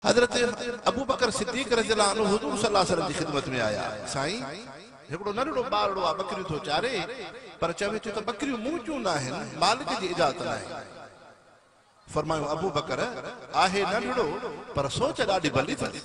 حضرت ابوبڪر صديق رضي الله عنه حضور صلي الله عليه وسلم جي خدمت ۾ آيا، سائين! هڪڙو ننڍڙو ٻارڙو آ، ٻڪريون ٿو چاري، پر چوي ٿو ته ٻڪريون مون جون ناهن، مالڪ جي اجازت ناهي. فرمايو، ابوبڪر! آهي ننڍڙو، پر سوچ ڏاڍي ڀلي اٿس.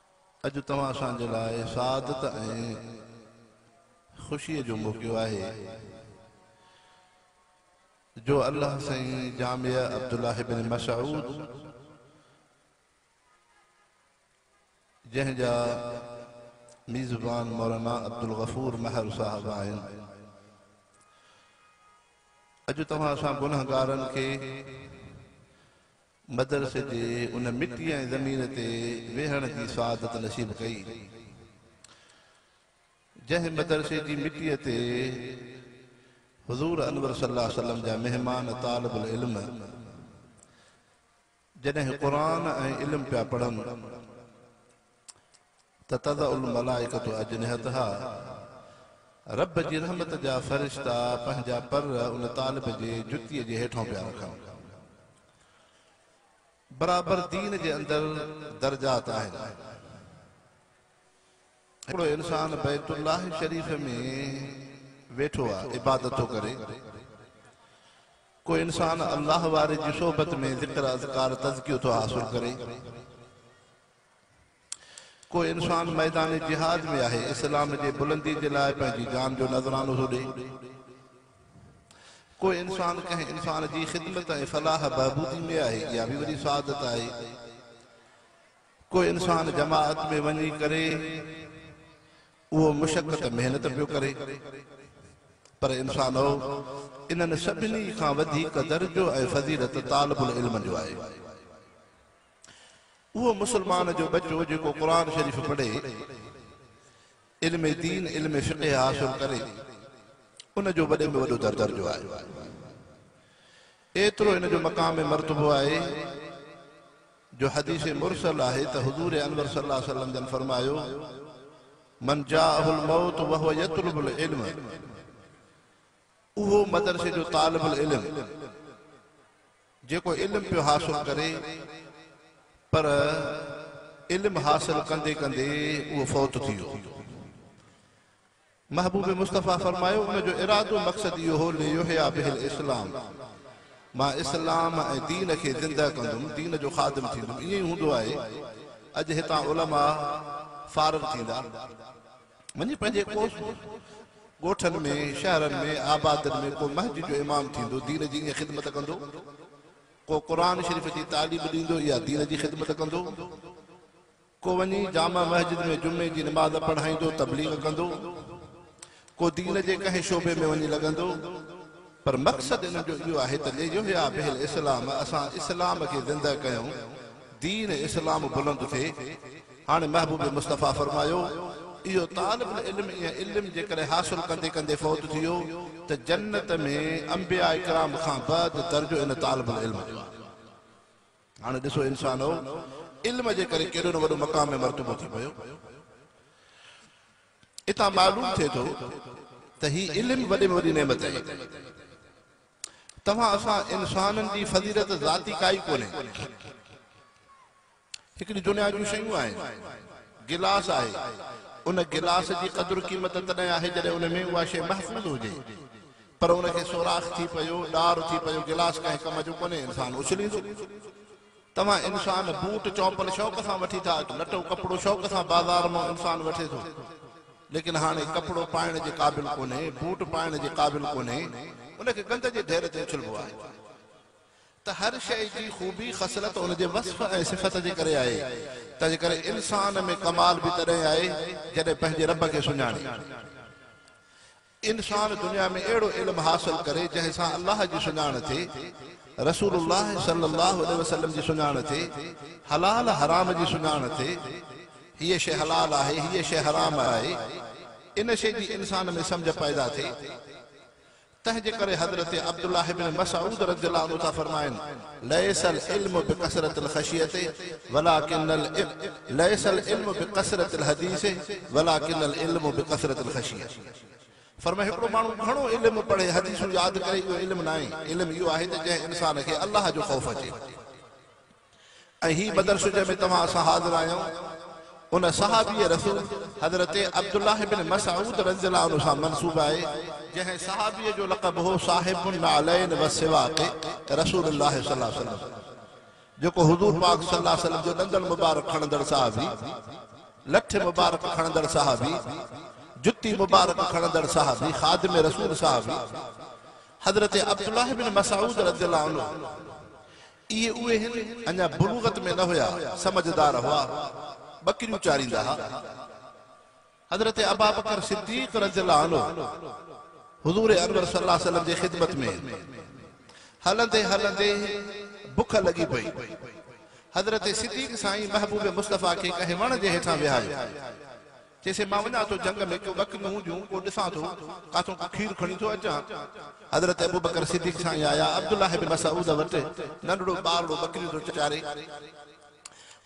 اڄ توهان اسان جي لاء سعادت ۽ خوشيء جو موقعو آهي جو الله سائين جامعه عبدالله بن مسعود جنهن جا ميزبان مولانا عبدالغفور مهر صاحب آهن اڄ توهان اسان گنهگارن کي مدرسي جي ان مٽي ۽ زمين تي ويهڻ جي سعادت نصيب ڪئي، جنهن مدرسي جي مٽيء تي حضور انور صلي الله عليه وسلم جا مهمان طالب العلم جڏهن قرآن ۽ علم پيا پڙهن، ته تضع الملائڪة اجنحتها رب جي رحمت جا فرشتا پنهنجا پر ان طالب جي جتيء جي هيٺئون پيا رکن. برابر دين جي اندر درجات آهن. هڪڙو انسان بيت الله شريف ۾ ويٺو آهي عبادت ٿو ڪري. ڪو انسان الله واري جي صحبت ۾ ذڪر اذڪار تزڪيو ٿو حاصل ڪري. ڪو انسان ميدان جهاد ۾ آهي اسلام جي بلندي جي لاء پنهنجي جان جو نذرانو ٿو ڏئي. ڪو انسان ڪنهن انسان جي خدمت ۽ فلاح بهبودي ۾ آهي اها به وڏي سعادت آهي. ڪو انسان جماعت ۾ وڃي ڪري اهو مشقت محنت پيو ڪري. پر انسانؤ انهن سڀني کان وڌيڪ درجو ۽ فضيلت طالب العلم جو آهي. اهو مسلمان جو ٻچو جيڪو قرآن شريف پڙهي، علم دين، علم فقه حاصل ڪري، ان جو وڏي ۾ وڏو درجو آهي. ايترو ان جو مقام مرتبو آهي جو حديث مرسل آهي ته حضور انور صلّي اللّٰه عليه وسلّم جن فرمايو، من جاءه الموت وهو يطلب العلم، اهو مدرسي جو طالب العلم جيڪو علم پيو حاصل ڪري پر علم حاصل ڪندي ڪندي اهو فوت ٿي ويو. محبوب مصطفيٰ فرمايو ان جو ارادو مقصد اهو هو ليحيٰ به الاسلام مان اسلام ۽ دين کي زنده ڪندم، دين جو خادم ٿيندم. ائين ئي هوندو آهي اڄ هتان علماء فارغ ٿيندا. وڃي پنهنجي ڪوس ڳوٺن ۾ شهرن ۾ آبادين ۾ ڪو مسجد جو امام ٿيندو دين جي ائين خدمت ڪندو ڪو قرآن شريف جي تعليم ڏيندو يا دين جي خدمت ڪندو ڪو وڃي جامع مسجد ۾ جمعي جي نماز پڙهائيندو تبليغ ڪندو ڪو دين جي ڪنهن شعبي ۾ وڃي لڳندو پر مقصد انهن جو اهو آهي ته ليحيا به الاسلام اسان اسلام کي زنده ڪيون، دين اسلام بلند ٿئي. هاڻي محبوب مصطفيٰ فرمايو، اهو طالب العلم ۽ علم جيڪڏهن حاصل ڪندي ڪندي فوت ٿي ويو ته جنت ۾ انبياء ڪرام کان بعد درجو ان طالب العلم جو آهي. هاڻي ڏسو انسانؤ! علم جي ڪري ڪيڏو نه وڏو مقام ۽ مرتبو ٿي پيو. اتان معلوم ٿئي ٿو ته هي علم وڏي ۾ وڏي نعمت آهي. توهان اسان انسانن جي فضيلت ذاتي ڪائي ڪونهي. هڪڙي دنيا جون شيون آهن. گلاس آهي، ان گلاس جي قدر قيمت تڏهن آهي جڏهن ان ۾ اها شيء محفوظ هجي. پر ان کي سوراخ ٿي پيو، ڏار ٿي پيو، گلاس ڪنهن ڪم جو ڪونهي، انسان اڇليندو. توهان انسان بوٽ چوپل شوق سان وٺي ٿا اچو لٽو ڪپڙو شوق سان بازار مئو انسان وٺي ٿو ليڪن هاڻي ڪپڙو پائڻ جي قابل ڪونهي بوٽ پائڻ جي قابل ڪونهي ان کي گند جي ڍير تي اڇلبو آهي ته هر شئي جي خوبي خصلت ان جي وصف ۽ صفت جي ڪري آهي تنهنجي ڪري انسان ۾ ڪمال به تڏهن آهي جڏهن پنهنجي رب کي سڃاڻي انسان دنيا ۾ اهڙو علم حاصل ڪري جنهن سان الله جي سڃاڻ ٿئي، رسول الله صلي الله عليه وسلم جي سڃاڻ ٿئي، حلال حرام جي سڃاڻ ٿئي، هيء شيء حلال آهي، هيء شيء حرام آهي، ان شيء جي انسان ۾ سمجهه پيدا ٿئي. تنهن جي ڪري حضرت عبدالله بن مسعود رضي الله عنه ٿا فرمائن، ليس العلم بڪثرة الخشية ولٰڪن العلم ليس العلم بڪثرة الحديث ولٰڪن العلم بڪثرة الخشية. فرمايو هڪڙو ماڻهو گهڻو علم پڙهي حديثون ياد ڪري اهو علم ناهي، علم اهو آهي ته جنهن انسان کي الله جو خوف اچي. ۽ هي مدرسو جنهن ۾ توهان اسان حاضر آهيون ان صحابي رسول حضرت عبدالله بن مسعود رضي الله عنه سان منسوب آهي، جنهن صحابي جو لقب هو صاحب النعلين والسواق رسول الله صلي الله عليه وسلم. جيڪو حضور پاڪ صلي الله عليه وسلم جو ڏندڻ مبارڪ کڻندڙ صحابي، لٺ مبارڪ کڻندڙ صحابي، جتي مبارڪ کڻندڙ صحابي، خادم رسول صحابي، حضرت عبدالله بن مسعود رضي الله عنه اهي اهي هن، اڃا بلوغت ۾ نه هيا، سمجهدار هئا، ٻڪريون چاريندا ها. حضرت ابابڪر صديق رضي الله عنه حضور انور صلي الله عليه وسلم جي خدمت ۾ هلندي هلندي بک لڳي پئي. حضرت صديق سائين محبوب مصطفيٰ کي ڪنهن وڻ جي هيٺان ويهايو. چيسين مان وڃان ٿو جنگ ۾ ڪيون ٻڪريون هونديون ڪو ڏسان ٿو ڪاٿو ڪو کير کڻي ٿو اچان. حضرت ابوبڪر صديق سائين آيا عبدالله بن مسعود وٽ ننڍڙو ٻارڙو ٻڪريون ٿو چاري.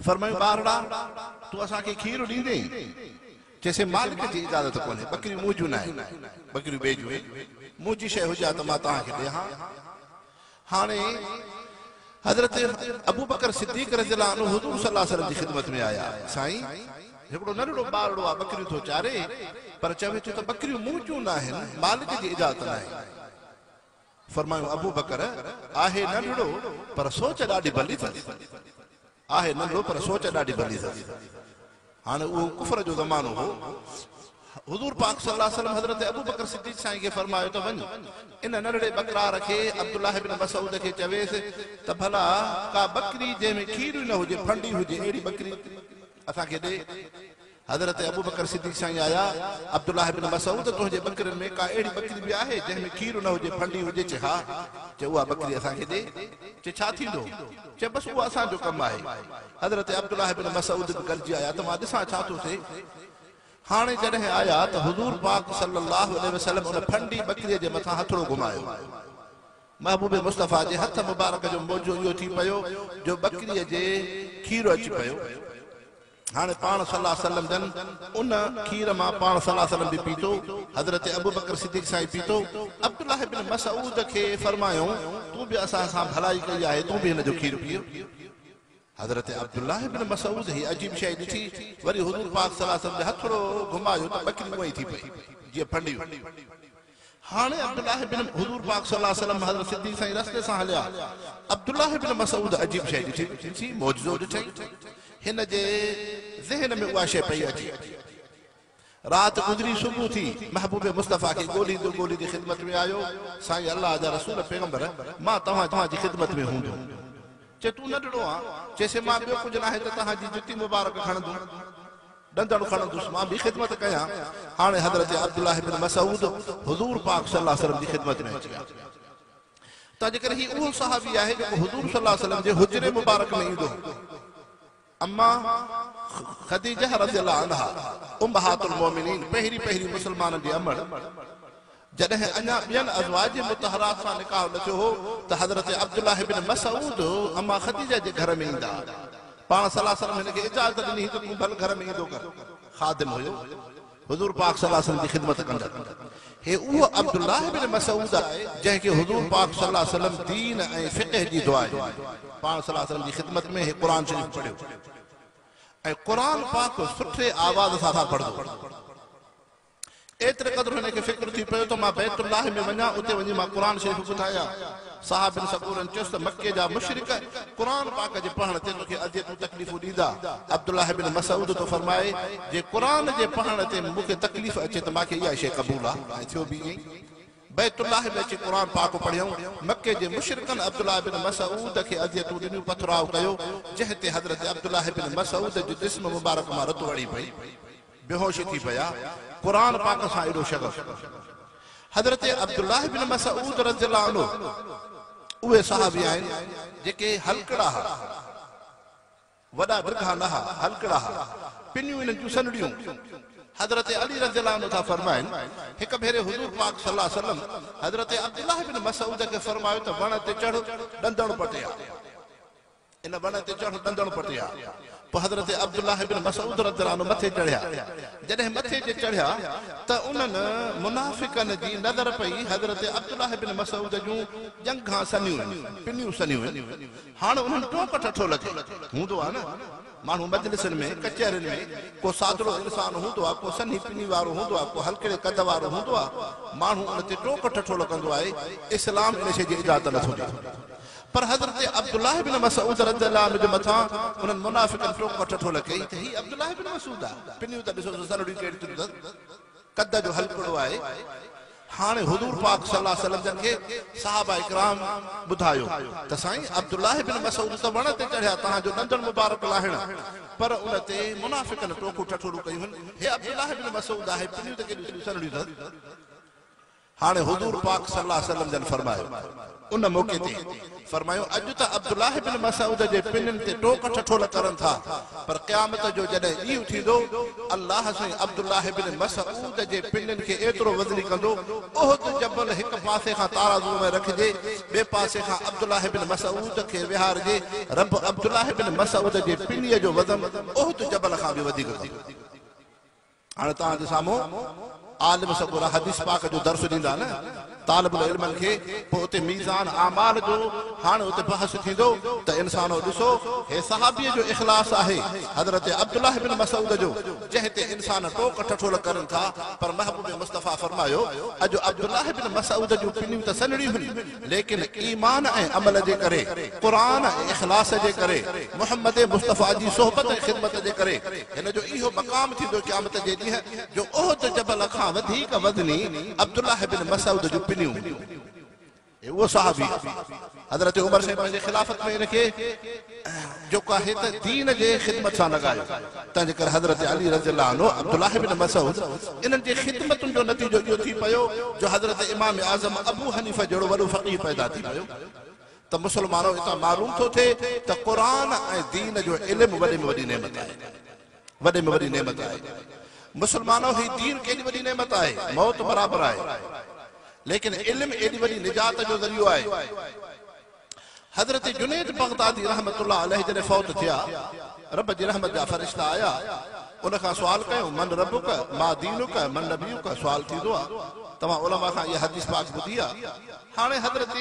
فرمايون ٻارڙا! تون اسان کي کير ڏيندين؟ چيسين مالڪ جي اجازت ڪونهي، ٻڪريون مون جون ناهن، ٻڪريون ٻئي جون آهن، منهنجي شيء هجي ها ته مان توهان کي ڏي ها. هاڻي حضرت ابوبڪر صديق رضي الله عنه حضور صلي الله عليه وسلم جي خدمت ۾ آيا، سائين! هڪڙو ننڍڙو ٻارڙو آ، ٻڪريون ٿو چاري، پر چوي ٿو ته ٻڪريون مون جون ناهن، مالڪ جي اجازت ناهي. فرمايو ابوبڪر، آهي ننڍڙو پر سوچ ڏاڍي ڀلي اٿس. آهي ننڍڙو پر سوچ ڏاڍي ڀلي اٿس. هاڻ اهو ڪفر جو زمانو هو. حضور پاڪ صلي الله عليه وسلم حضرت ابوبڪر صديق سائين کي فرمايو ته وڃ ان ننڍڙي ٻڪرار کي عبدالله بن مسعود کي چويس ته ڀلا ڪا ٻڪري جنهن ۾ کير ئي نه هجي ڦنڊي هجي اهڙي ٻڪري اسان کي ڏي. حضرت ابوبڪر صديق سائين آيا، عبدالله بن مسعود! تنهنجي ٻڪرين ۾ ڪا اهڙي ٻڪري به آهي، جنهن ۾ کير نه هجي، ڦنڊي هجي؟ چي ها! چي اها ٻڪري اسان کي ڏي. چي ڇا ٿيندو؟ چي بس اها اسان جو ڪم آهي. حضرت عبدالله بن مسعود به گڏجي آيا ته مان ڏسان ڇا ٿو ٿئي. هاڻي جڏهن آيا ته حضور پاڪ صلّي اللّٰه عليه وسلّم ان ڦنڊي ٻڪريء جي مٿان هٿڙو گهمايو. محبوب مصطفٰي جي هٿ مبارڪ جو معجزو اهو ٿي پيو جو ٻڪريء جي کير اچي پيو. هاڻي پاڻ صلّي اللّٰه عليه وسلّم جن ان کير مان پاڻ صلّي اللّٰه عليه وسلّم به پيتو، حضرت ابوبڪر صدّيق سائين پيتو، عبدالله ابن مسعود کي فرمايائون، تون به اسان سان ڀلائي ڪئي آهي، تون به هن جو کير پيء. حضرت عبدالله ابن مسعود هيء عجيب شيء ڏٺي، وري حضور پاڪ صلّي اللّٰه عليه وسلّم جي هٿڙو گهمايو ته ٻڪري اونئين ٿي پئي، جيئن ڦنڊي هئي. هاڻي عبدالله بن حضور پاڪ صلي الله عليه وسلم حضرت صديق سائين رستي سان هليا. عبدالله بن مسعود عجيب شيء ڏٺي، جنسي معجزو ڏٺائين. هن جي ذهن ۾ اها شيء پئي اچي. رات گذري صبح ٿي، محبوب مصطفيٰ کي ڳولهيندو ڳولهيندي خدمت ۾ آيو، سائين الله جا رسول پيغمبر مان توهان جي خدمت ۾ هوندم. چي تون ننڍڙو آن؟ چيسين مان ٻيو ڪجهه ناهي ته توهان جي جتي مبارڪ کڻندم. ڏندڻ کڻندس مان به خدمت ڪيان هاڻي حضرت عبدالله بن مسعود حضور پاڪ صلي الله عليه وسلم جي خدمت ۾ اچي آ تنهنجي ڪري هي اهو صحابي آهي جيڪو حضور صلي الله عليه وسلم جي حجري مبارڪ ۾ ايندو هو اما خديجه رضي الله عنها امهات المومنين پهرين پهرين مسلمانن جي امڙ جڏهن اڃا ٻين ازواج مطهرات سان نڪاح نه ٿيو هو ته حضرت عبدالله بن مسعود اما خديجه جي گهر ۾ ايندا ها. پاڻ صلّي الله عليه وسلّم هن کي اجازت ڏني هئي ته تون ڀل گهر ۾ ايندو ڪر. خادم هيو. حضور پاڪ صلّي الله عليه وسلّم جي خدمت ڪندڙ. هي اهو عبدالله بن مسعود آهي جنهن کي حضور پاڪ صلّي الله عليه وسلّم دين ۽ فقه جي دعا ڏني. پاڻ صلّي الله عليه وسلّم جي خدمت ۾ هي قرآن شريف پڙهيو ۽ قرآن پاڪ سٺي آواز سان پڙهندو هو. ايتري قدر هن کي فڪر ٿي پيو ته مان بيت الله ۾ وڃان اتي وڃي مان قرآن شريف ٻڌايان. صاحب بن سڪورن چيس ته مڪي جا مشرڪ قرآن پاڪ جي پڙهڻ تي توکي اذيتون تڪليفون ڏيندا. عبدالله بن مسعود ٿو فرمائي، جي قرآن جي پڙهڻ تي مون کي تڪليف اچي ته مان کي اها ئي شيء قبول آهي ۽ ٿيو به ائين ئي. بيت الله ۾ اچي قرآن پاڪ پڙهيائون. مڪي جي مشرڪن عبدالله بن مسعود کي اذيتون ڏنيون، پٿراء ڪيو، جنهن تي حضرت عبدالله بن مسعود جي جسم مبارڪ مان رت وڙهي پئي. بيهوش ٿي پيا، قرآن پاڪ سان ايڏو شغف! حضرت عبدالله بن مسعود رضي الله عنه اهي صحابي آهن جيڪي هلڪڙا ها، وڏا ڊگها نه ها، هلڪڙا ها، پنيون انهن جون سنهڙيون. حضرت علي رضي الله عنه ٿا فرمائن، هڪ ڀيري حضور پاڪ صلي الله عليه وسلم حضرت عبدالله بن مسعود کي فرمايو ته وڻ تي چڙهه، ڏندڻ پٽيا. ان وڻ تي چڙهڻ ڏندڻ پٽي ها. پوء حضرت عبدالله بن مسعود رضي الله عنه مٿي چڙهيا. جڏهن مٿي جي چڙهيا ته انهن، منافقن، جي نظر پئي حضرت عبدالله بن مسعود جون ڄنگهان سنيون هيون، پنيون سنيون هيون. هاڻ انهن ٽوڪ ٺٺو لڳي. هوندو آهي نه، ماڻهو مجلسن ۾، ڪچهرين ۾، ڪو سادڙو انسان هوندو آهي، ڪو سنهي پني وارو هوندو آهي، ڪو هلڪڙي قد وارو هوندو آهي، ماڻهو ان تي ٽوڪ ٺٺو لڳندو آهي. اسلام ان شيء جي اجازت نٿو ڏي. پر حضرت عبدالله بن مسعود رضي الله عنه جي مٿان انهن منافقن ٽوڪ ۽ ٺٺول ڪئي ته هي عبدالله بن مسعود آ، پنيون ته ڏسو سو سرڙيون ڪهڙيون ٿيون اٿس، قد جو هلڪڙو آهي. هاڻي حضور پاڪ صلي الله عليه وسلم جن کي صحابه ڪرام ٻڌايو ته سائين عبدالله بن مسعود ته وڻ تي چڙهيا تهان جو ڏندڻ مبارڪ لاهڻ پر ان تي منافقن ٽوڪون ٺٺولون ڪيون هن، هي عبدالله بن مسعود آهي، پنيون ته ڪيڏيون سرڙيون اٿس. هاڻي حضور پاڪ صلي الله عليه وسلم جن فرمايو، ان موقعي تي فرمايو، اڄ ته عبدالله بن مسعود جي پنن تي ٽوڪ ٺٺول ڪرن ٿا، پر قيامت جو جڏهن ڏينهن ٿيندو، الله سائين عبدالله بن مسعود جي پنن کي ايترو وزني ڪندو، احد جبل هڪ پاسي کان تارازو ۾ رکجي، ٻئي پاسي کان عبدالله بن مسعود کي ويهارجي، رب عبدالله بن مسعود جي پنيء جو وزن احد جبل کان به وڌيڪ ڪندو. هاڻي توهان جي سامهون عالم سڳورا حديث پاڪ جو درس ڏيندا نه طالب العلمن کي پوء اتي ميزان اعمال جو هاڻي اتي بحث ٿيندو ته انسانو ڏسو هي صحابي جو اخلاص آهي حضرت عبدالله بن مسعود جو جنهن تي انسان ٽوڪ ٺٺول ڪرين ٿا پر محبوب مصطفيٰ فرمايو اڄ عبدالله بن مسعود جون پنيون ته سنهڙيون هن ليڪن ايمان ۽ عمل جي ڪري، قرآن ۽ اخلاص جي ڪري، محمد مصطفيٰ جي صحبت ۽ خدمت جي ڪري، هن جو اهو مقام ٿيندو قيامت جي ڏينهن جو احد جبل کان وڌيڪ وزني عبدالله بن مسعود جون پنيون هونديون. هي اهو صحابي آهي، حضرت عمر سائين پنهنجي خلافت ۾ هن کي. جيڪو آهي ته دين جي خدمت سان لڳايو، تنهنجي ڪري حضرت علي رضي الله عنه، عبدالله بن مسعود انهن جي خدمتن جو نتيجو اهو ٿي پيو جو حضرت امام اعظم ابو حنيفه جهڙو وڏو فقيه پيدا ٿي پيو ته مسلمانو اتان معلوم ٿو ٿئي ته قرآن ۽ دين جو علم وڏي ۾ وڏي نعمت آهي وڏي ۾ وڏي نعمت آهي مسلمانو هي دين ڪيڏي وڏي نعمت آهي موت برابر آهي ليڪن علم ايڏي وڏي نجات جو ذريعو آهي. حضرت جنيد بغدادي رحمة الله عليه جڏهن فوت ٿيا، رب جي رحمت جا فرشتا آيا، ان کان سوال ڪيو، من ربک، ما دينک، من نبيک، سوال ٿيندو آ، توهان علماء کان اها حديث پاڪ ٻڌي آ؟ هاڻي حضرت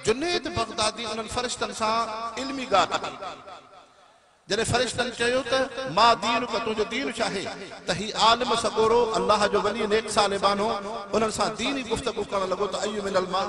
جنيد بغدادي انهن فرشتن سان علمي ڳالهه ڪئي، جڏهن فرشتن چيو ته، ما دينک، تنهنجو دين ڇا آهي؟ ته هي عالم سڳورو، الله جو ولي، نيڪ صالح ٻانهو، انهن سان ديني گفتگو ڪرڻ لڳو ته اي من الماء؟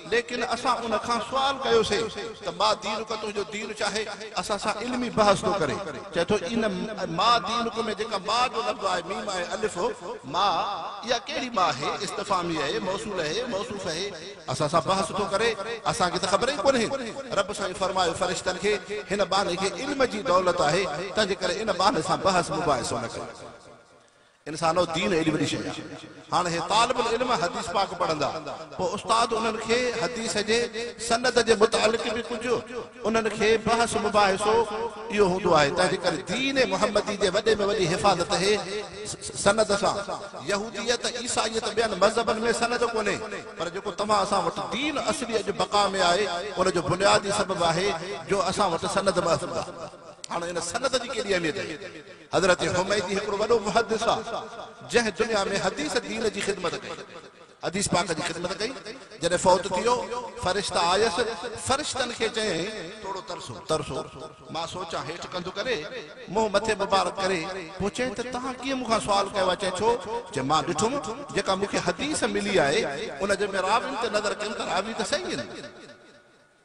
ليڪن اسان ان کان سوال ڪيوسين ته ما دينڪ تنهنجو دين ڇاهي؟ اسان سان علمي بحث ٿو ڪري. چئي ٿو ان ما دينڪ ۾ جيڪا ما جو لفظ آهي ميم آهي الف هو ما اها ڪهڙي ما اهي استفهامي اهي موصول اهي موصوف اهي اسان سان بحث ٿو ڪري اسان کي ته خبر ئي ڪونهي رب سائين فرمايو فرشتن کي هن ٻانهي کي علم جي دولت آهي تنهنجي ڪري ان ٻانهي سان بحث مباحثو نه ڪيو. انسانو دين ايڏي وڏي شيء آهي. هاڻ هي طالب العلم حديث پاڪ پڙهندا پوء استاد انهن کي حديث جي سند جي متعلق به ڪجهه انهن کي بحث مباحثو اهو هوندو آهي تنهنجي ڪري دين محمدي جي وڏي ۾ وڏي حفاظت هي سند سان يهوديت عيسائيت ٻين مذهبن ۾ سند ڪونهي پر جيڪو توهان اسان وٽ دين اصلي اڄ بقا ۾ آهي ان جو بنيادي سبب آهي جو اسان وٽ سند محفوظ آهي هاڻ ان سند جي ڪيڏي اهميت آهي. حضرت حميدي هڪڙو وڏو محدث آ جنهن دنيا ۾ حديث دين جي خدمت ڪئي حديث پاڪ جي خدمت ڪئي جڏهن فوت ٿيو فرشتا آيس فرشتن کي چيائين ٿورو ترسو ترسو مان سوچان هيٺ ڪنڌ ڪري منهن مٿي مبارڪ ڪري پوء چيائين ته توهان ڪيئن مون کان سوال ڪيو آ چيائين ڇو چيائين مان ڏٺم جيڪا مون کي حديث ملي آهي ان جي ۾ راوين تي نظر ڪيم ته راوي ته صحيح آهن.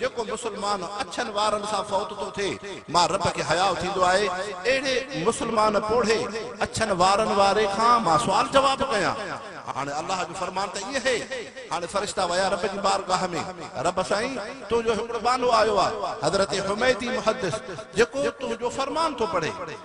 جيڪو مسلمان اڇن وارن سان فوت ٿو ٿئي، مان رب کي حياء ٿيندو آهي اهڙي مسلمان پوڙهي اڇن وارن واري کان مان سوال جواب ڪيان؟ هاڻي الله جو فرمان ته ائين هي. هاڻي فرشتا ويا رب جي بارگاهه ۾، رب سائين! تنهنجو هڪڙو ٻانهو آيو آهي، حضرت حميدي محدث، جيڪو تنهنجو فرمان ٿو پڙهي.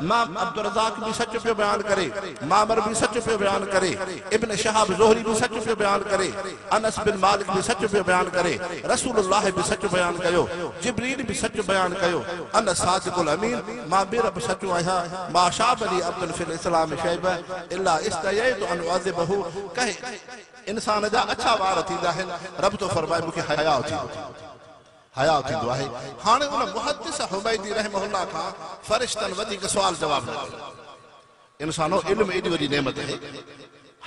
امام عبدالرزاق به سچ پيو بيان ڪري، معمر به سچ پيو بيان ڪري، ابن شهاب زهري به سچ پيو بيان ڪري، انس بن مالڪ به سچ پيو بيان ڪري، رسول الله به سچ بيان ڪيو، جبريل به سچ بيان ڪيو، انا الصادق الامين، مان بي رب سچو آهيان، ما شاب لي عبد في الاسلام شيبه الا استحييت ان اعذبه، ڪنهن انسان جا اڇا وار ٿيندا آهن، رب ٿو فرمائي مون کي حياء ٿيندو. حياء ٿيندو آهي. هاڻي ان محدث حميدي رحمه الله کان فرشتن وڌيڪ سوال جواب نه ڪيو. انسانو! علم ايڏي وڏي نعمت اهي،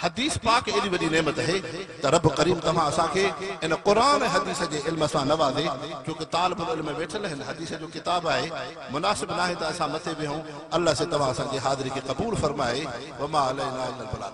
حديث پاڪ ايڏي وڏي نعمت اهي ته رب ڪريم توهان اسان کي ان قرآن ۽ حديث جي علم سان نوازي ڇو ڪه طالب العلم ويٺل هن حديث جو ڪتاب آهي مناسب ناهي ته اسان مٿي ويهون الله سي توهان اسان جي حاضري کي قبول فرمائي وما علينا الا البلاغ.